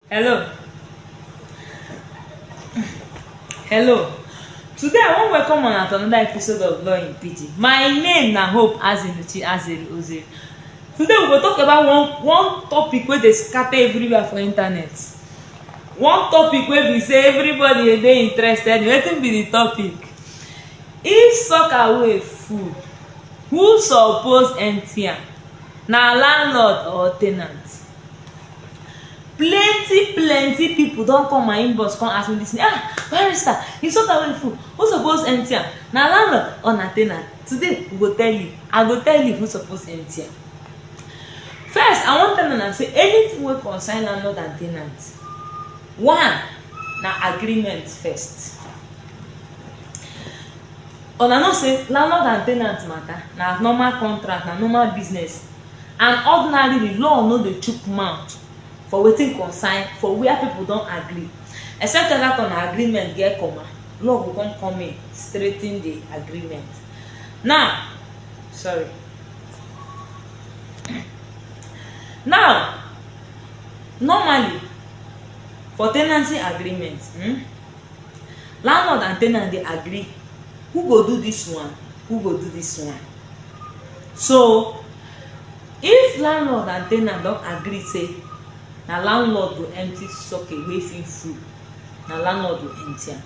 hello hello today i wan welcome una to another episode of law in pidgin my name na hope azinuchi azeri ozeri today we go talk about one one topic wey dey scatter everywhere for internet one topic wey be say everybody dey dey interested in wetin be the topic if soccer wey full who suppose empty am na landlord or ten ant plenty plenty people don come my inbox come ask me this thing ah barrister you soak away full who suppose empty am na landlord or na tenant today we go tell you i go tell you who suppose empty am first i wan tell una say anything wey concern landlord and tenant one na agreement first una know say landlord and tenant matter na normal contract na normal business And ordinarily, law no dey chook mouth for wetin concern for where people don agree except say dat una agreement get comma, law go come come in straighten the agreement. Now, sorry. Now, normally, for ten ancy agreement um landlord and ten ant dey agree who go do dis one, who go do dis one. So if landlord and ten ant don agree say na landlord go empty socket wey fit full, na landlord go empty am.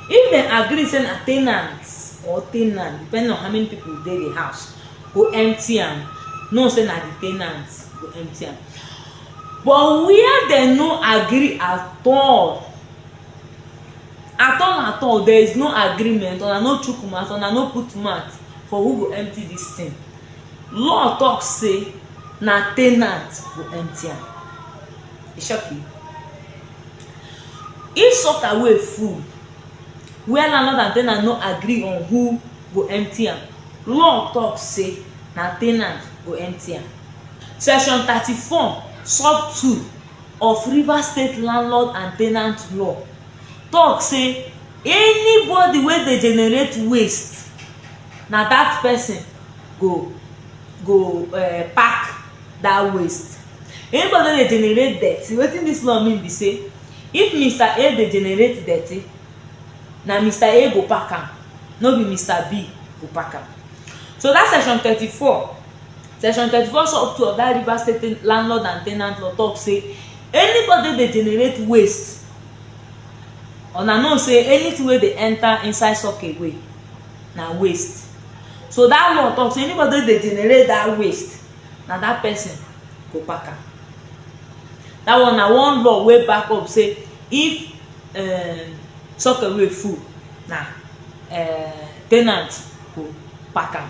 If dem agree say na ten ant or ten ant depending on how many people dey the house go empty am, know say na the ten ant go empty am. But where dem no agree at all, at all at all there is no agreement una no chook mouth una no put mouth for who go empty this thing law talk say na ten ant go empty am e shock you if sucker wey full where landlord and ten ant no agree on who go empty am law talk say na ten ant go empty am section thirty four sub two of Rivers State Landlord and Tenant Law talk say anybody wey dey generate waste na that person go go uh, pack that waste anybody wey dey generate dirty wetin this law mean be say if mr a dey generate dirty na mr a go pack am no be mr b go pack am so that section thirty-four Section thirty-four sub two of that Rivers State ten- landlord and tenant law talk say anybody dey generate waste una know say anything wey dey enter inside sock away na waste so that law talk say anybody wey dey generate that waste na that person go pack am that one na one law wey back up say if um, sock away full na um, tenant go pack am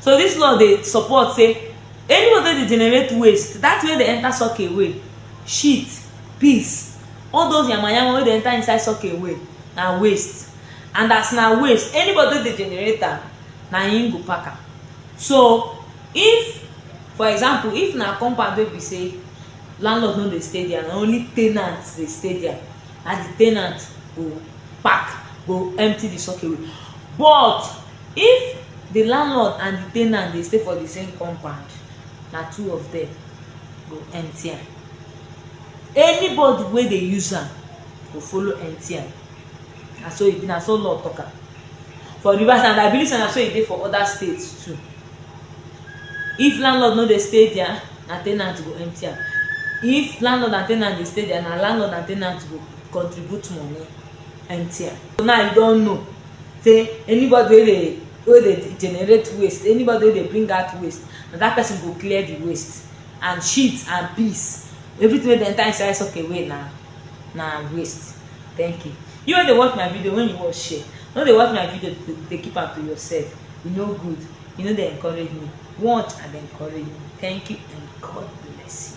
so dis law dey support say anybody wey dey generate waste dat thing wey dey enter sock away shit piss all those yama yama wey dey enter inside sock away na waste and as na waste anybody wey dey generate am na him go pack am so if for example if na compound wey be say landlord no dey stay dia na only ten ant dey stay dia na di ten ant go pack go empty di sock away but If di landlord and di ten ant dey stay for di same compound, na two of dem go empty am. Anybody wey dey use am go follow empty am. Na so e be, na so law talk am for Rivers and I believe say na so e dey for other states too. If landlord no dey stay dia, na ten ant go empty am. If landlord and ten ant dey stay dia, na landlord and ten ant go contribute money empty am. So now you don know. say anybody wey dey wey dey generate waste anybody wey dey bring out waste na that person go clear the waste and shit and piss everything wey dey enter inside sock away na na waste thank you you wey dey watch my video when you watch share no dey watch my video to dey keep am to yourself e no good e no dey encourage me watch and encourage me thank you and god bless you